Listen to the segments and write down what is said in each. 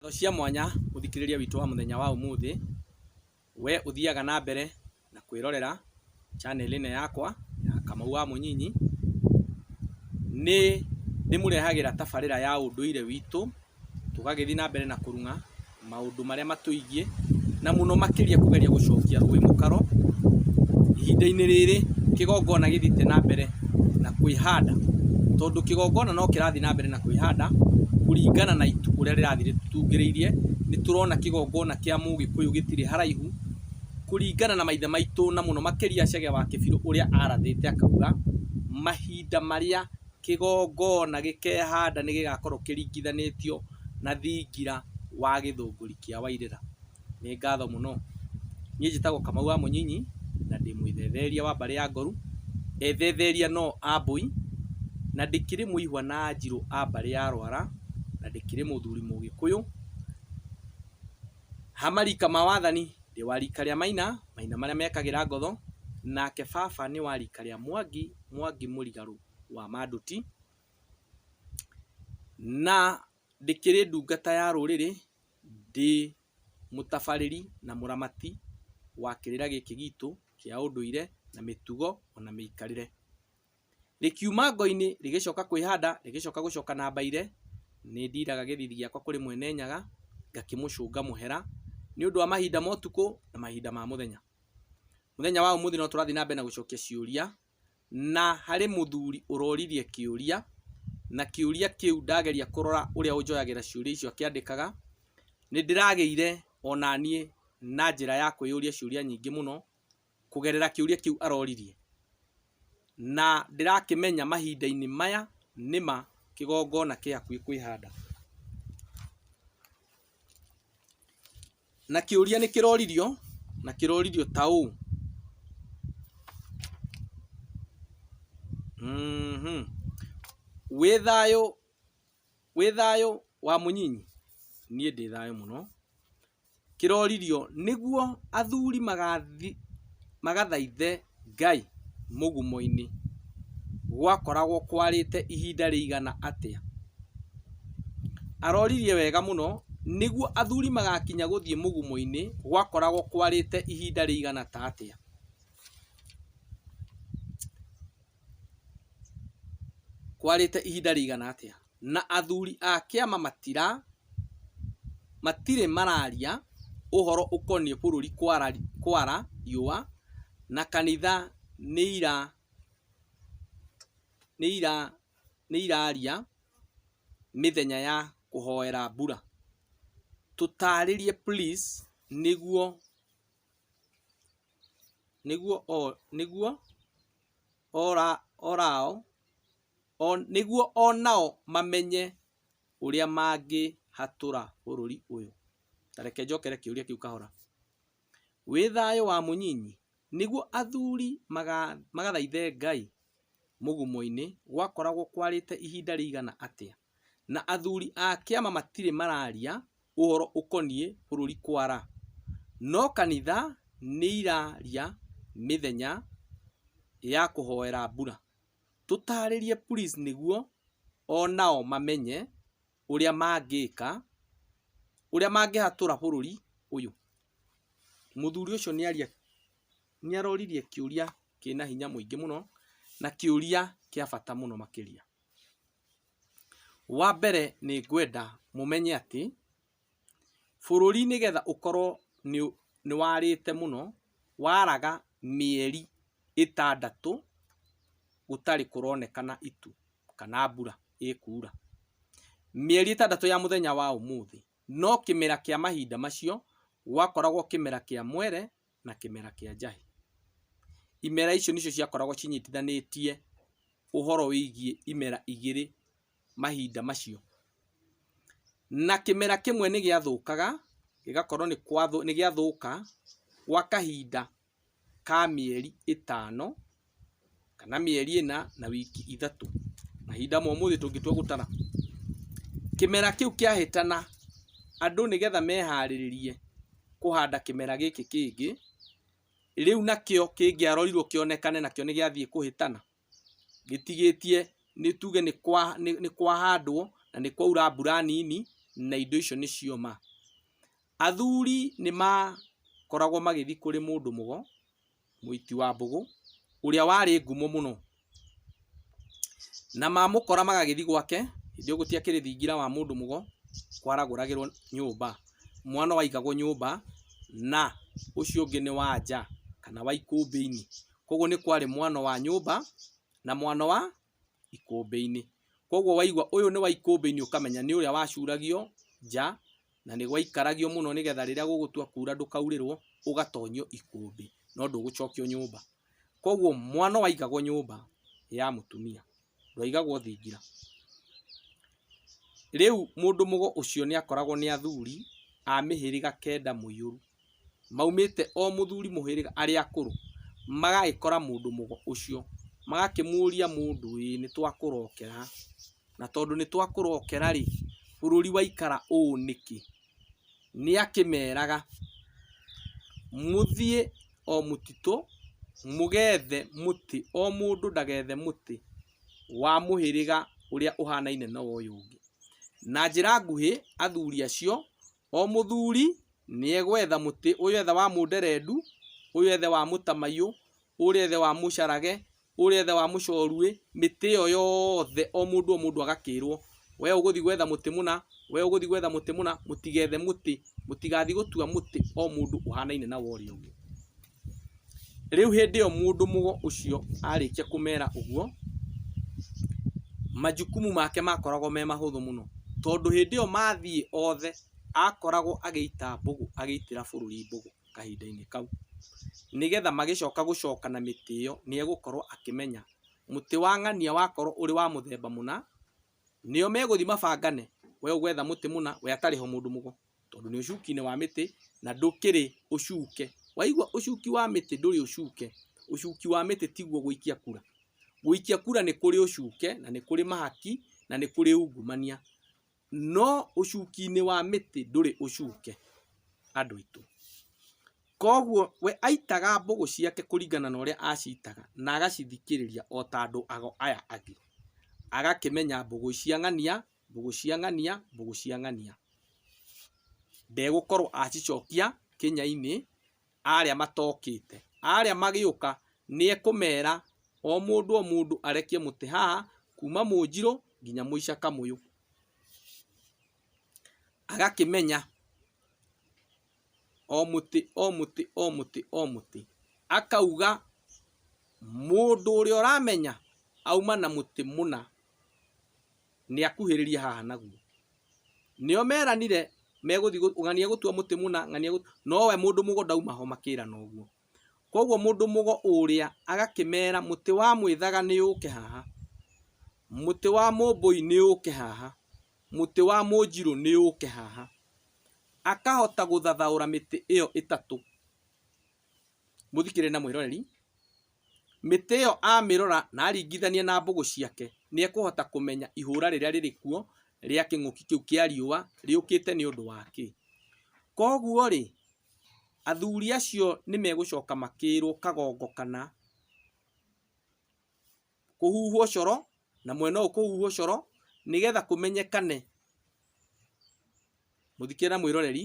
Ng'ano cia mwanya mũthikĩrĩria witũ wa mũthenya wa ũmũthĩ, we ũthiaga na mbere na kwĩrorera channel ĩno yakwa ya Kamau wa Mũnyinyi, nĩ ndĩmũrehagĩra tabarĩra ya ũndũire witũ, tũgagĩthiĩ na mbere na kũrung'a maũndũ marĩa matũigiĩ, na mũno makĩria kũgeria gũcokia rũĩ mũkaro. Ihinda-inĩ rĩrĩ kĩgongona gĩthiĩte na mbere na kwĩhanda, tondũ kĩgongona no kĩrathiĩ na mbere na kwĩhanda kũringana na itu ũrĩa rĩrathiĩ rĩtungĩrĩirie. Nĩ tũrona kĩgongona kĩa mũgĩkũyũ gĩtirĩ haraihu kũringana na maithe maitũ na mũno makĩria Chege wa Kĩbirũ ũrĩa arathĩte akauga, mahinda marĩa kĩgongona gĩkehanda nĩ gĩgakorwo kĩringithanĩtio na thingira wa gĩthũngũri kĩa Wairĩra. Nĩ ngatho mũno. Niĩ njĩtagwo Kamau wa Mũnyinyi, na ndĩ mwĩthetheria wa mbarĩ ya Ngoru, ethetheria no a Mbũi, na ndĩkĩrĩ mũihwa na Anjirũ a mbarĩ ya Rwara, na ndĩkĩrĩ mũthuri Mũgĩkũyũ. Ha marika ma wathani, ndĩ wa rika rĩa Maina, Maina marĩa mekagĩra ngotho, nake baba nĩ wa rika rĩa Mwangi, Mwangi mũrigarũ wa Manduti, na... Ndĩkĩrĩ ndungata ya rũrĩrĩ, ndĩ mũtabarĩri na mũramati wa kĩrĩra gĩkĩ gitũ kĩa ũndũire na mĩtugo ona mĩikarĩre. Rĩkiuma ngo-inĩ rĩgĩcoka kwĩhanda rĩgĩcoka gũcoka na mbaire, nĩ ndiraga gĩthithi gĩakwa kũrĩ Mwene Nyaga ngakĩmũcũnga mũhera nĩ ũndũ wa mahinda ma ũtukũ na mahinda ma mũthenya. Mũthenya wa ũmũthĩ no tũrathiĩ na mbere na gũcokia ciũria. Na harĩ mũthuri ũroririe kĩũria, na kĩũria kĩu ndageria kũrora ũrĩa ũnjoyagĩra ciũria icio akĩandĩkaga, nĩndĩragĩire onaniĩ na njĩra ya kwĩyũria ciũria nyingĩ mũno, kũgerera kĩũria kĩu aroririe. Na ndĩrakĩmenya mahinda-inĩ maya nĩma kĩgongona kĩhakuhĩ kwĩhanda. Na kĩũria nĩ kĩroririo na kĩroririo ta ũũ. Mhm. Wĩ thayũ wĩ thayũ wa mũnyinyi? Niĩ ndĩ thayũ mũno. Kĩroririo, nĩguo athuri magathiĩ magathaithe Ngai mũgumo-inĩ gwakoragwo kwarĩte ihinda rĩigana atĩa? Aroririe wega mũno, Nĩguo athuri magakinya gũthiĩ mũgumo-inĩ gwakoragwo kwarĩte ihinda rĩigana ta atĩa? Kwarĩte ihinda rĩigana atĩa? na athuri a kĩama matira matirĩ mararia ũhoro ũkoniĩ bũrũri kwara kwara riũa na kanitha nĩira nĩira nĩiraria mĩthenya ya kũhoera mbura. Tũtarĩrie please nĩguo nĩguo o nĩguo ora orao. o nĩguo o nao mamenye ũrĩa mangĩhatũra bũrũri ũyũ. Ta reke njokere kĩũria kĩu kahora. Wĩ thayũ wa mũnyinyi? Nĩguo athuri magathaithe Ngai mũgumo-inĩ gwakoragwo kwarĩte ihinda rĩigana atĩa? Na athuri a kĩama matirĩ mararia ũhoro ũkoniĩ bũrũri kwara. No kanitha nĩiraria mĩthenya ya kũhoera mbura. Tũtarĩrie please nĩguo onao mamenye ũrĩa mangĩka, ũrĩa mangĩhatũra bũrũri ũyũ. Mũthuri ũcio nĩaria, nĩaroririe kĩũria kĩna hinya mũingĩ mũno, na kĩũria kĩa bata mũno makĩria. Wambere nĩngwenda mũmenye atĩ, Bũrũri nĩgetha ũkorwo nĩwarĩte mũno, waraga mĩeri ĩtandatũ gũtarĩ kũronekana itu kana mbura ĩkuura. Mĩeri ĩtandatũ ya mũthenya wa ũmũthĩ, no kĩmera kĩa mahinda macio gwakoragwo kĩmera kĩa mwere na kĩmera kĩa njahĩ. Imera icio nĩcio ciakoragwo cinyitithanĩtie ũhoro wĩgiĩ imera igĩrĩ mahinda macio. Na kĩmera kĩmwe nĩ gĩathũkaga, gĩgakorwo nĩ gĩathũka gwa kahinda ka mĩeri ĩtano, kana mĩeri ĩna na wiki ithatũ, mahinda ma ũmũthĩ tũngĩtua gũtara. Kĩmera kĩu kĩahĩtana, andũ nĩgetha meharĩrĩrie kũhanda kĩmera gĩkĩ kĩngĩ, rĩu nakĩo kĩngĩarorirwo kĩonekane nakĩo nĩ gĩathiĩ kũhĩtana, gĩtigĩtie nĩ tuge nĩ kwahandwo na nĩ kwaura mbura nini na indo icio nĩ cioma. Athuri nĩ makoragwo magĩthiĩ kũrĩ mũndũ mũgo, mũiti wa mbũgũ, ũrĩa warĩ ngumo mũno. Na mamũkora magagĩthiĩ gwake, hĩndĩ ĩyo gũtiakĩrĩ thingira wa mũndũ mũgo, kwaragũragĩrwo nyũmba. Mwana ũraigagwo nyũmba na ũcio ũngĩ nĩ wa nja kana wa ikũmbĩ-inĩ. Koguo nĩ kwarĩ mwana wa nyũmba na mwana wa ikũmbĩ-inĩ. Koguo waigua ũyũ nĩ wa ikũmbĩ-inĩ ũkamenya nĩ ũrĩa wacuragio nja na nĩ gwaikaragio mũno nĩ getha rĩrĩa gũgũtua kuura ndũkaurĩrwo ũgatonyio ikũmbĩ no ndũgũcokio nyũmba. Koguo mwana waigagwo nyũmba ya mũtumia. ndwaigagwo thingira. Rĩu mũndũ mũgo ũcio nĩ akoragwo nĩ athuri a mĩhĩrĩga kenda mũiyũru, maumĩte o mũthuri mũhĩrĩga, arĩa akũrũ, magagĩkora mũndũ mũgo ũcio, magakĩmũria mũndũ ĩ, nĩ twakũrokera, na tondũ nĩ twakũrokera rĩ, bũrũri waikara ũũ nĩkĩ? nĩakĩmeraga, Mũthiĩ o mũtitũ mũgethe mũtĩ, o mũndũ ndagethe mũtĩ wa mũhĩrĩga ũrĩa ũhanaine na ũyũ ũngĩ. Na njĩra nguhĩ athuri acio, o mũthuri nĩegwetha mũtĩ, ũyũ ethe wa mũnderendu, ũyũ ethe wa mũtamaiyũ, ũrĩa ethe wa mũcarage, ũrĩa ithe wa mũcoruĩ, mĩtĩ ĩyo yothe o mũndũ o mũndũ agakĩrwo, we ũgũthiĩ gwetha mũtĩ mũna, we ũgũthiĩ gwetha mũtĩ mũna, mũtigethe mũtĩ, mũtigathiĩ gũtua mũtĩ o mũndũ ũhanaine na wa ũrĩa ũngĩ. Rĩu hĩndĩ ĩyo mũndũ mũgo ũcio arĩkia kũmera ũguo, majukumu make makoragwo me mahũthũ mũno, tondũ hĩndĩ ĩyo mathiĩ othe akoragwo agĩita mbũgũ, agĩitĩra bũrũri mbũgũ. kahinda-inĩ kau. Nĩgetha magĩcoka gũcoka na mĩtĩ ĩyo nĩ egũkorwo akĩmenya mũtĩ wa ng'ania wakorwo ũrĩ wa mũthemba mũna, nĩo megũthiĩ mabangane, we ũgwetha mũtĩ mũna, we atarĩ ho mũndũ mũgo, tondũ nĩ ũcuki-inĩ wa mĩtĩ na ndũkĩrĩ ũcuke. Waigua ũcuki wa mĩtĩ ndũrĩ ũcuke, ũcuki wa mĩtĩ tiguo gũikia kura. Gũikia kura nĩ kũrĩ ũcuke, na nĩ kũrĩ mahaki, na nĩ kũrĩ ungumania. No ũcuki-inĩ wa mĩtĩ ndũrĩ ũcuke, andũ aitũ. Koguo we aitaga mbũgũ ciake kũringana na ũrĩa acitaga na agacithikĩrĩria o ta andũ ago aya angĩ. Agakĩmenya mbũgũ ici cia ng'ania, mbũgũ cia ng'ania, mbũgũ cia ng'ania. Ndegũkorwo acicokia kĩnya-inĩ. arĩa matokĩte. Arĩa magĩũka nĩekũmera, o mũndũ o mũndũ arekie mũtĩ haha, kuuma Mũnjirũ nginya Mũica Kamũyũ. Agakĩmenya o mũtĩ o mũtĩ o mũtĩ o mũtĩ. Akauga mũndũ ũrĩa ũramenya auma na mũtĩ mũna. nĩakuhĩrĩrie haha naguo. Nĩo meranire megũthiĩ gũ- ng'ania gũtua mũtĩ mũna, ng'ania gũ- no we mũndũ mũgo ndauma ho makĩrana ũguo. Koguo mũndũ mũgo ũrĩa agakĩmera mũtĩ wa mwĩthaga nĩũke haha, mũtĩ wa mũmbũi nĩũke haha, mũtĩ wa mũnjirũ nĩũke haha. Akahota gũthathaũra mĩtĩ ĩyo ĩtatũ, mũthikĩrĩri na mwĩroreri, mĩtĩ ĩyo amĩrora na aringithania na mbũgũ ciake, nĩ ekũhota kũmenya ihũra rĩrĩa rĩrĩ kuo rĩa kĩng'ũki kĩu kĩa riũa rĩũkĩte nĩ ũndũ wa kĩ. Kwoguo rĩ, athuri acio nĩ megũcoka makĩrwo kagongo kana kũhuhwo coro na mwena ũyũ kũhuhwo coro nĩgetha kũmenyekane, mũthikĩre na mwĩroreri,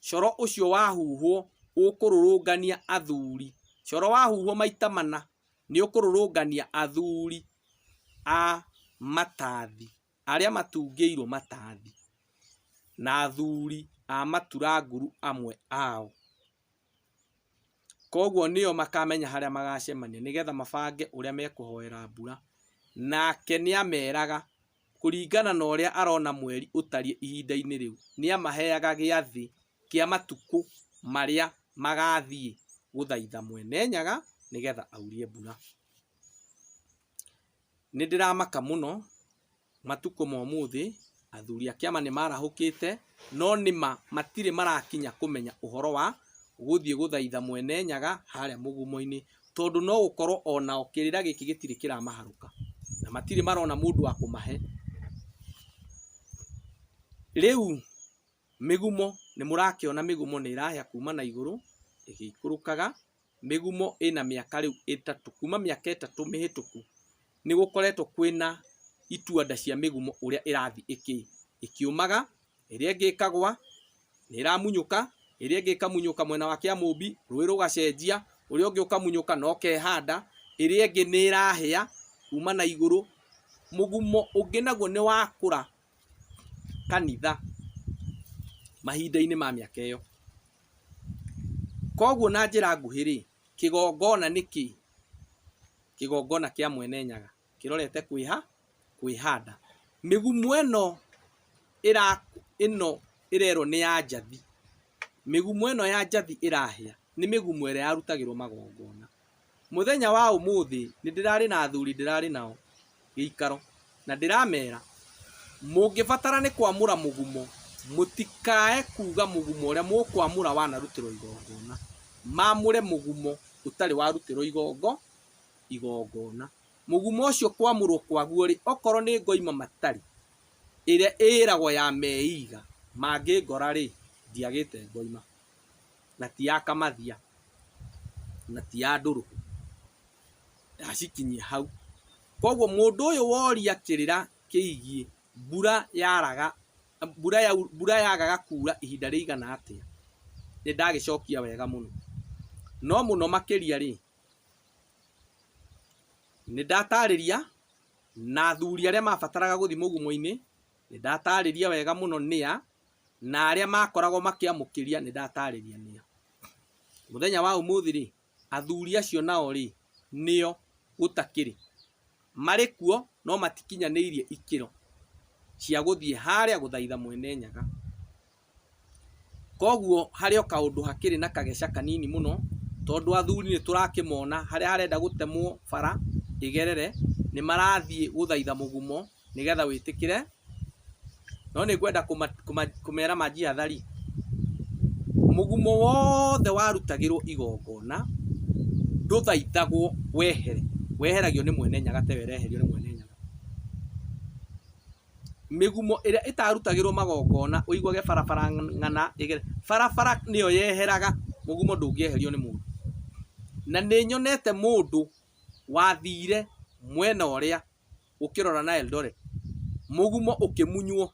coro ũcio wahuhwo ũkũrũrũngania athuri. Coro wahuhwo maita mana nĩũkũrũrũngania athuri a matathi, arĩa matungĩirwo matathi na athuri a matura nguru amwe ao. Koguo nĩo makamenya harĩa magacemania nĩgetha mabange ũrĩa mekũhoera mbura. Nake nĩ ameraga kũringana na ũrĩa arona mweri ũtariĩ ihinda-inĩ rĩu. Nĩ amaheaga gĩathĩ kĩa matukũ marĩa magathiĩ gũthaitha Mwene Nyaga nĩgetha aurie mbura. Nĩndĩramaka mũno, matukũ ma ũmũthĩ, athuri a kĩama nĩmarahũkĩte, no nĩma matirĩ marakinya kũmenya ũhoro wa gũthiĩ gũthaitha Mwene Nyaga harĩa mũgumo-inĩ, tondũ no gũkorwo o nao kĩrĩra gĩkĩ gĩtirĩ kĩramaharũka, na matirĩ marona mũndũ wa kũmahe. Rĩu... Mĩgumo, nĩ mũrakĩona mĩgumo nĩ ĩrahĩa kuma na igũrũ ĩgĩikũrũkaga, mĩgumo ĩna mĩaka rĩu ĩtatũ, kuma mĩaka ĩtatũ mĩhĩtũku nĩ gũkoretwo kwĩna ituanda cia mĩgumo ũrĩa ĩrathiĩ ĩkĩũmaga, ĩrĩa ĩngĩ ĩkagwa, nĩ ĩramunyũka, ĩrĩa ĩngĩ ĩkamunyũka mwena wa Kĩamũmbi, rũĩ rũgacenjia, ũrĩa ũngĩ ũkamunyũka na ũkehanda, ĩrĩa ĩngĩ nĩ ĩrahĩa kuma na igũrũ. Mũgumo ũngĩ naguo nĩ wakũra kanitha mahinda-inĩ ma mĩaka ĩyo. Koguo na njĩra nguhĩ rĩ, kĩgongona nĩ kĩĩ? Kĩgongona kĩa Mwene Nyaga kĩrorete kwĩha? Kwĩhanda. Mĩgumo ĩno ĩra, ĩno ĩrerwo nĩ ya njathi, mĩgumo ĩno ya njathi ĩrahĩa nĩ mĩgumo ĩrĩa yarutagĩrwo magongona. Mũthenya wa ũmũthĩ nĩndĩrarĩ na athuri ndĩrarĩ nao gĩikaro, na ndĩramera, Mũngĩbatara nĩ kwamũra mũgumo, mũtikae kuuga mũgumo ũrĩa mũkwamũra wanarutĩrwo igongona, mamũre mũgumo ũtarĩ warutĩrwo igongo, igongona. Mũgumo ũcio kwamũrwo kwaguo-rĩ, okorwo nĩ ngoima matarĩ, ĩrĩa ĩragwo ya meiga, mangĩngora-rĩ, ndiagĩte ngoima. na ti ya kamathia na ti ya ndũrũhũ ndacikinyia hau koguo mũndũ ũyũ woria kĩrĩra kĩigiĩ mbura yaraga mbura, ya, mbura yagaga kuura ihinda rĩigana atĩa nĩ ndagĩcokia wega mũno no mũno makĩria rĩ nĩ ndatarĩria na athuri arĩa mabataraga gũthiĩ mũgumo-inĩ nĩ ndatarĩria wega mũno nĩa na arĩa maakoragwo makĩamũkĩria nĩ ndataarĩria nĩa. Mũthenya wa ũmũthĩ-rĩ, athuri acio nao-rĩ, nĩo, gũtakĩrĩ. Marĩ kuo, no matikinyanĩirie ikĩro cia gũthiĩ harĩa gũthaitha Mwene Nyaga. Kwoguo harĩ o kaũndũ hakĩrĩ na kageca kanini mũno, tondũ athuri nĩ tũrakĩmona harĩa harenda gũtemwo bara ĩgerere, nĩ marathiĩ gũthaitha mũgumo nĩgetha wĩtĩkĩre no nĩ ngwenda kũmera manjiathari mũgumo wothe warutagĩrwo igongona ndũthaithagwo wehere weheragio nĩ mwene nyaga tewe ĩreherio nĩ mwene nyaga mĩgumo ĩrĩa ĩtarutagĩrwo magongona ũiguage barabara ng'ana ĩgere barabara nĩyo yeheraga mũgumo ndũngĩeherio nĩ mũndũ na nĩ nyonete mũndũ wathire mwena ũrĩa ũkĩrora na Eldoret, mũgumo ũkĩmunywo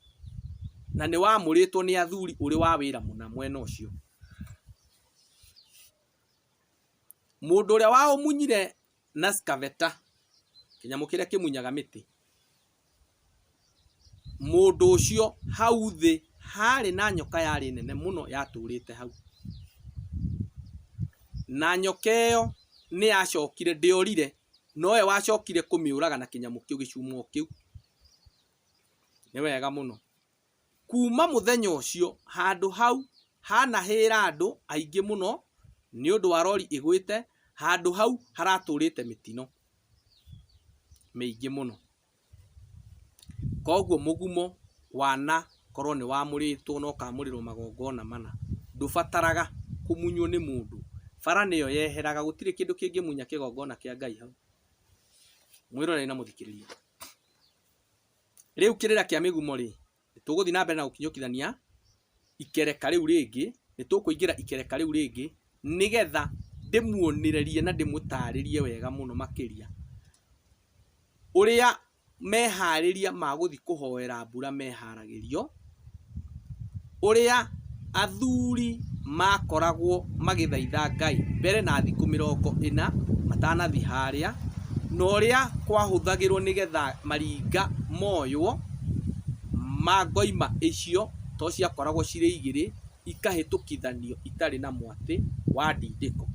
na nĩ wamũrĩtwo nĩ athuri ũrĩ wa wĩra mũna mwena ũcio. Mũndũ ũrĩa waũmunyire na scaveta, kĩnyamũ kĩrĩa kĩmunyaga mĩtĩ, mũndũ ũcio hau thĩ harĩ na nyoka yarĩ nene mũno yatũrĩte hau. Na nyoka ĩyo nĩ yacokire ndĩorire nowe wacokire kũmĩũraga na kĩnyamũ kĩu gĩcuma o kĩu. Nĩ wega mũno. Kuma mũthenya ũcio handũ hau hanahĩra andũ aingĩ mũno nĩ ũndũ wa rori ĩgwĩte, handũ hau haratũrĩte mĩtino mĩingĩ mũno. Koguo mũgumo wana korwo nĩ wamũrĩtwo na ũkamũrĩrwo magongona mana, ndũbataraga kũmunywo nĩ mũndũ, bara nĩyo yeheraga, gũtirĩ kĩndũ kĩngĩmunya kĩgongona kĩa Ngai hau. Mwĩroreri na mũthikĩrĩria, rĩu kĩrĩra kĩa mĩgumo rĩ, nĩ tũgũthiĩ na mbere na gũkinyũkithania ikereka rĩu rĩngĩ, nĩ tũkũingĩra ikereka rĩu rĩngĩ, nĩgetha ndĩmuonĩrerie na ndĩmũtarĩrie wega mũno makĩria, ũrĩa meharĩria magũthiĩ kũhoera mbura meharagĩrio, ũrĩa. athuri makoragwo magĩthaitha Ngai mbere na thikũ mĩrongo ĩna matanathiĩ harĩa, na ũrĩa kwahũthagĩrwo nĩgetha maringa moywo ma ngoima icio, to ciakoragwo cirĩ igĩrĩ, ikahĩtũkithanio itarĩ na mwatĩ wa ndindĩko.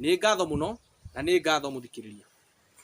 Nĩ ngatho mũno, na nĩ ngatho mũthikĩrĩria.